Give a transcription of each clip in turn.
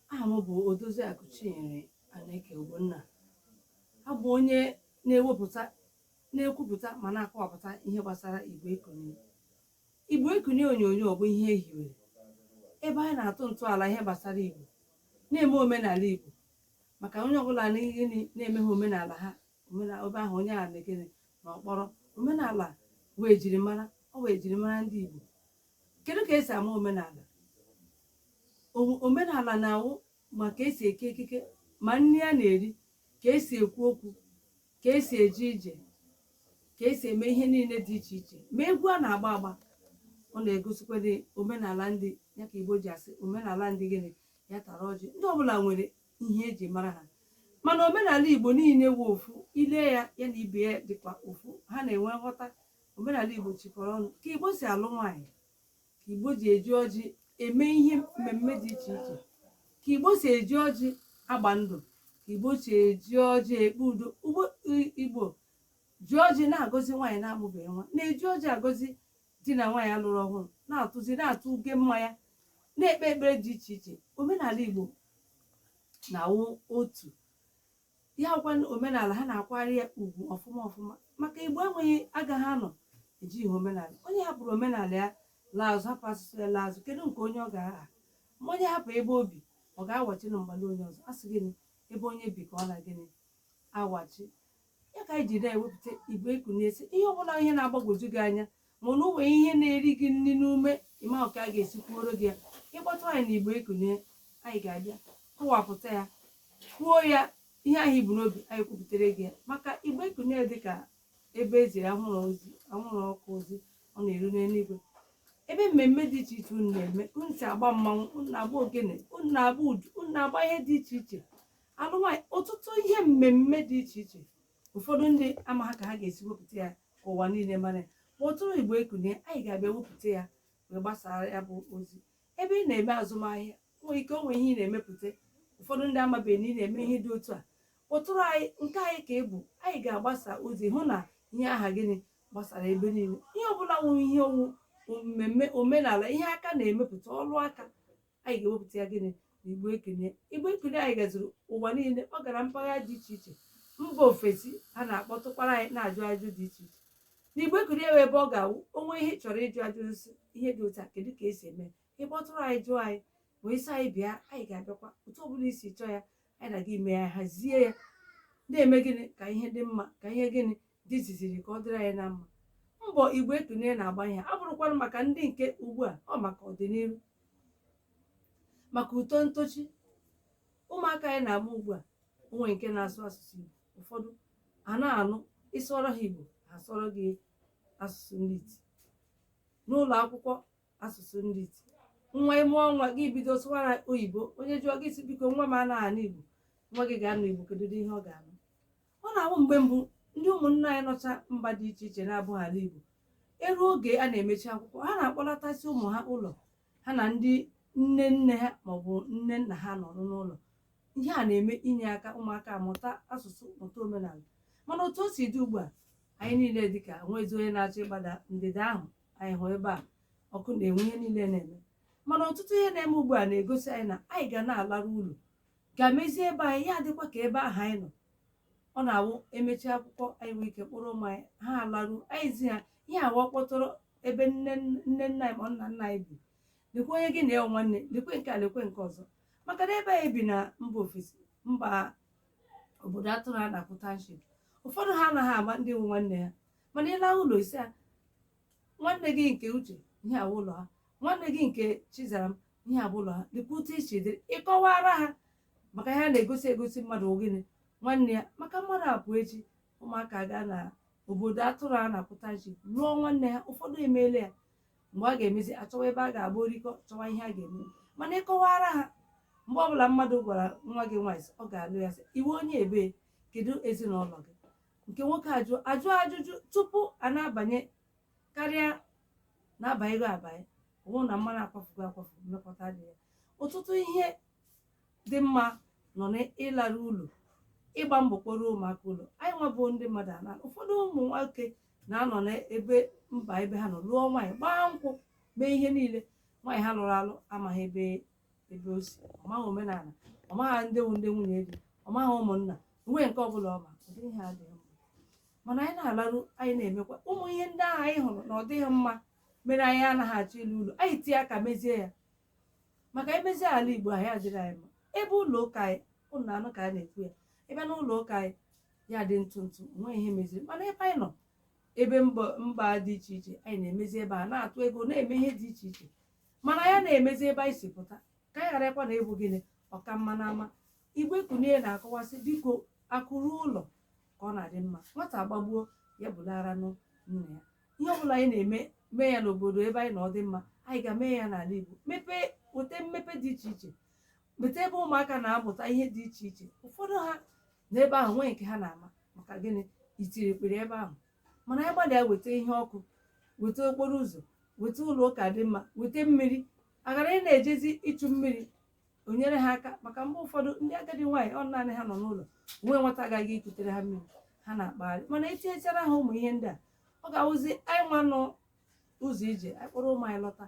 aha m bụ Odoziakụ Chinyere Aneke Ogbonna abụ onye na-e- na-ekwupụta ma na-akọwapụta ihe gbasara igbo ekunie igbo ekunie onyonyo bụ ihe ehiwere ebe anyị na-atụ ntọala ihe gbasara igbo na-eme omenala igbo maka onye ọbụla na-emeha omenala ha ebe ahụ onye a na-ekene na ọkpọrọ omenala wụ ejirimara ọ wụ ejirimara ndị igbo kedu ka esi ama omenala omenala na-awụ ma ka esi eke ekike ma nri a na-eri ka esi ekwu okwu ka esi eje ije ka esi eme ihe niile dị iche iche ma egwu a na-agba agba ọ na-egosikwadị omenala ndị ya ka igbo ji asị omenala ndị gịnị ya tara ọjị ndị ọbụla nwere ihe eji mara ha mana omenala igbo niile wụ ofu i lee ya ya na ibe ya dịkwa ofu ha na-enwe nghọta omenala Igbo chịkọrọ ọnụ ka Igbo si alụ nwaanyị ka Igbo ji eji ọjị eme ihe mmemme dị iche iche ka Igbo si eji ọjị agba ndụ ka Igbo si eji ọjị ekpe udo Igbo ji ọjị na-agọzi nwaanyị na-amụbeghị nwa na-eji ọjị agọzi di na nwaanyị alụrụ ọhụrụ na-atụzi na-atụ uge mmanya na-ekpe ekpere dị iche iche omenala Igbo na-awụ otu ya wụkwa omenala ha na-akwari ya ugwu ọfụma ọfụma maka igbo enweghị agaghị anọ ejighị omenala onye hapụrụ omenala ya laa azụ hapụ asụsụ ya laa azụ kedu nke onye ọ ga-aha ma onye hapụ ebe o bi ọ ga-awachi na mgbala onye ọzọ a sị gịnị ebe onye bi ka ọ na gịnị awachi ya ka anyị ji na-ewepụta igbo ekunie sị ihe ọbụla ihe na-agbagwoju gị anya mana o nwere ihe na-eri gị nri n'ume ị maha ka a ga-esi kwuoro gị ya ị kpọtụ anyị na igbo ekunie anyị ga-abịa kọwapụta ya kwuo ya ihe ahụ i bu n'obi anyị kwupụtara gị ya maka igbo ekunie dị ka ebe e ziri anwụrụ ozi anwụrụ ọkụ ozi ọ na-eru n'eluigwe ebe mmemme dị iche iche unu na-eme unu si agba mmanwụ unu na-agba ogene unu na-agba udu unu na-agba ihe dị iche iche alụ nwaanyị ọtụtụ ihe mmemme dị iche iche ụfọdụ ndị amaha ka ha ga-esi wepụta ya ka ụwa niile mara ya kpọtụrụ igbo ekunie anyị ga-abịa wepụta ya wee gbasaa ya bụ ozi ebe ị na-eme azụmahịa nwere ike o nwe ihe ị na-emepụta ụfọdụ ndị amabeghị na ị na-eme ihe dị otu a kpọtụrụ anyị nke anyị ka ọ bụ anyị ga-agbasa ozi hụ na ihe aha gịnị gbasara ebe niile ihe ọbụla nwere ihe ọ wụ mmemme omenala ihe aka na-emepụta ọrụ aka anyị ga-ewepụta ya gịnị na igbo ekunie igbo ekunie anyị gazuru ụwa niile ọ gara mpaghara dị iche iche mba ofesi ha na-akpọtụkwara anyị na-ajụ ajụ dị iche iche na igbo ekunie nwee ebe ọ ga-awụ o nwe ihe ị chọrọ ịjụ ajụ sị ihe dị otu a kedu ka esi eme ị kpọtụrụ anyị jụọ anyị ma ị sị anyị bịa anyị ga-abịakwa otu ọ bụla i si chọọ ya anyị na gị emee ya hazie ya na-eme gịnị ka ihe dị mma ka ihe gịnị dị ziziri ka ọ dịrị anyị na mma mbọ igbo ekunie na-agba ihe abụrụkwara maka ndị nke ugbu a ọ maka ọdịnihu maka uto ntochi ụmụaka anyị na-amụ ugbu a o nwe nke na-asụ asụsụ igbo ụfọdụ a na-anụ ịsụọrọ ha igbo ha asụọrọ gị asụsụ ndị iti n'ụlọ akwụkwọ asụsụ ndị iti nwa ịmụọ nwa gị bido sụwara oyibo onye jụọ gị sị biko nwa m anaghị anụ igbo nwa gị ga-anụ igbo kedu ihe ọ ga-anụ ọ na-awụ mgbe mbụ ndị ụmụnna anyị nọcha mba dị iche iche na-abụghị ala Igbo eruo oge a na-emechi akwụkwọ ha na-akpọlatasị ụmụ ha ụlọ ha na ndị nne nne ha maọbụ nne nna ha nọrọ n'ụlọ ihe a na-eme inye aka ụmụaka amụta asụsụ mụta omenala mana otu o si dị ugbu a anyị niile dịka nwezi onye na-achọ ịgbada ndịda ahụ anyị hụ ebe a ọkụ na-enwu ihe niile na-eme mana ọtụtụ ihe na-eme ugbu a na-egosi anyị na anyị ga na-alaru ụlọ ga-emezi ebe anyị ya adịkwa ka ebe ahụ anyị nọ ọ na-awụ emechi akwụkwọ anyị nwee ike kpọrọ ụmụ anyị ha alaru anyị zi ha ihe a wụ ọkpụtọrọ ebe nne nne nna anyị ma ọ nna nna anyị bi lekwe onye gị na ya wụ nwanne lekwe nke a lekwe nke ọzọ maka na ebe anyị bi na mba ofesi mba obodo atụrụ a na-akpọ township ụfọdụ ha anaghị ama ndị wụ nwanne ha mana ịlaru ụlọ ị sị ya nwanne gị nke uche ihe a bụ ụlọ ha nwanne gị nke chizaram ihe a bụ ụlọ ha lekwa otu o si dịrị ịkọwara ha maka ihe a na-egosi egosi mmadụ ogene nwanne ya maka mmadụ apụ echi ụmụaka gaa na obodo atụrụ a na-akpọ township lụọ nwanne ha ụfọdụ emeela ya mgbe a ga-emezi achọwa ebe a ga-agba orikọ chọwa ihe a ga-eme mana ịkọwara ha mgbe ọbụla mmadụ gwara nwa gị nwaanyị sị, ọ ga-alụ ya sị ị wụ onye ebee kedu ezinụlọ gị nke nwoke ajụ ajụ ajụjụ tupu a na-abanye karịa na-abanyego abanye ọ wụ na mmanụ akwafugo akwafu mmekọta dị ya ọtụtụ ihe dị mma nọ n'ịlara ụlọ ịgba mbọ kpọrọ ụmụaka ụlọ anyị nwa bụ ndị mmadụ ana ụfọdụ ụmụ nwoke na-anọ n'ebe mba ebe ha nọ lụọ nwaanyị gbaa nkwụ mee ihe niile nwaanyị ha lụrụ alụ amaghị ebe ebe o si ọ maghị omenala ọ maghị ndị wụ ndị nwunye di ọ maghị ụmụnna nwee nke ọbụla ọ ma ụdị ihe a adịghị mma mana anyị na-alaru anyị na-emekwa ụmụ ihe ndị ahụ anyị hụrụ na ọ dịghị mma mere anyị anaghị achọ ịlọ ụlọ anyị tie aka mezie ya maka emezie ala igbo anyị adịrị anyị mma ebe ụlọ ụka anyị ụnụ na-anụ ka a na-ekwu ya ebe na ụlọ ụka anyị ya dị ntụ ntụ nwee ihe meziri mana ebe anyị nọ ebe mba mba dị iche iche anyị na-emezi ebe a na-atụ ego na-eme ihe dị iche iche mana ya na-emezi ebe anyị si pụta ka anyị gharakwa na ịbụ gịnị ọka mma na ama Igbo Ekunie na-akọwa sị biko akụ ruo ụlọ ka ọ na-adị mma nwata agbagbuo ya bulara nụ nna ya ihe ọbụla anyị na-eme mee ya n'obodo ebe anyị nọ ọ dị mma anyị ga-eme ya n'ala Igbo mepee weta mmepe dị iche iche weta ebe ụmụaka na-amụta ihe dị iche iche ụfọdụ ha n'ebe ahụ nwee nke ha na-ama maka gịnị itiri kpuru ebe ahụ mana anyị gbalịa weta ihe ọkụ weta okporo ụzọ weta ụlọ ụka dị mma weta mmiri a ghara ịna-ejezi ịchụ mmiri o nyere ha aka maka mgbe ụfọdụ ndị agadi nwaanyị ọ naanị ha nọ n'ụlọ o nwe nwata ga-aga ikutere ha mmiri ha na-akpagharị mana e tinyechara ha ụmụ ihe ndị a ọ ga-awụzi anyị nwa nọ ụzọ ije anyị kpọrọ ụmụ anyị lọta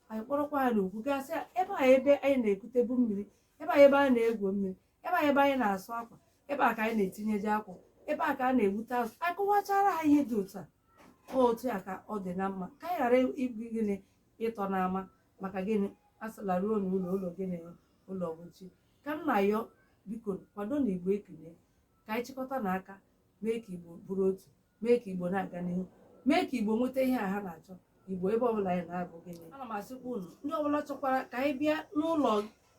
anyị kpọrọkwa ha n'ụkwụ gaa sị ya ebe a ebe anyị na-ekutebu mmiri ebe a ebe a na-egwu mmiri ebe a ebe anyị na-asụ akwa ebe a ka anyị na-etinyeje akwa ebe a ka a na-egbute azụ anyị kọwachara ha ihe dị otu a ọ otu a ka ọ dị na mma ka anyị ghara ịbụ gịnị ịtọ n'ama maka gịnị a sị laruo n'ụlọ ụlọ gịnị ụlọ ọgwụchi ka m na-ayọ biko kwadonụ igbo ekunie ka anyị chịkọta na aka mee ka igbo bụrụ otu mee ka igbo na-aga n'ihu mee ka igbo nweta ihe a ha na-achọ igbo ebe ọbụla anyị na-abụ gịnị ana m asịkwa unu ndị ọbụla chọkwara ka anyị bịa n'ụlọ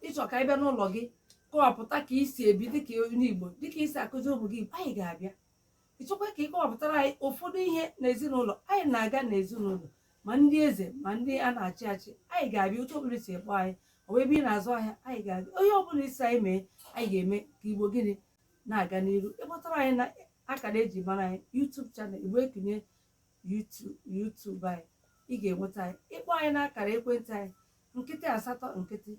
ị chọọ ka anyị bịa n'ụlọ gị kọwapụta ka i si ebi dịka onye igbo dịka i si akụziri ụmụ gị igbo anyị ga-abịa ị chọkwa ka ị kọwapụtara anyị ụfọdụ ihe n'ezinụlọ anyị na-aga n'ezinụlọ ma ndị eze ma ndị a na-achị achị anyị ga-abịa otu ọbụla i si akpọ anyị ọ bụ ebe ị na-azụ ahịa anyị ga-abịa onye ọbụla ị sị anyị mee anyị ga-eme ka igbo gịnị na-aga n'iru ị kpọtara anyị na akara eji mara anyị YouTube channel Igbo Ekunie YouTube anyị ị ga-enweta anyị ị kpọọ anyị n'akara ekwentị anyị nkịtị asatọ nkịtị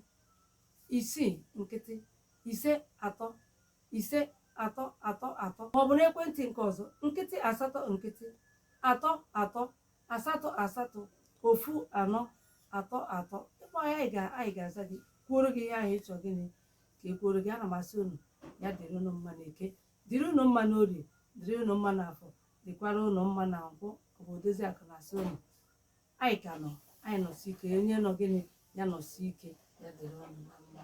isii nkịtị ise atọ ise atọ atọ atọ ma ọ bụ n'ekwentị nke ọzọ nkịtị asatọ nkịtị atọ atọ asatọ asatọ ofu anọ atọ atọ ị kpọọ anyị anyị ga-aza gị kwuoro gị ihe ahụ ị chọ gịnị ka e kwuoro gị ana m asị unu ya dịrị unu mma na eke dịrị unu mma na orie dịrị unu mma na afọ dịkwara unu mma na nkwọ ọ bụ odoziakụ na-asị unu anyị ka nọ anyị nọsi ike onye nọ gịnị ya nọsi ike ya dịrị unu na mma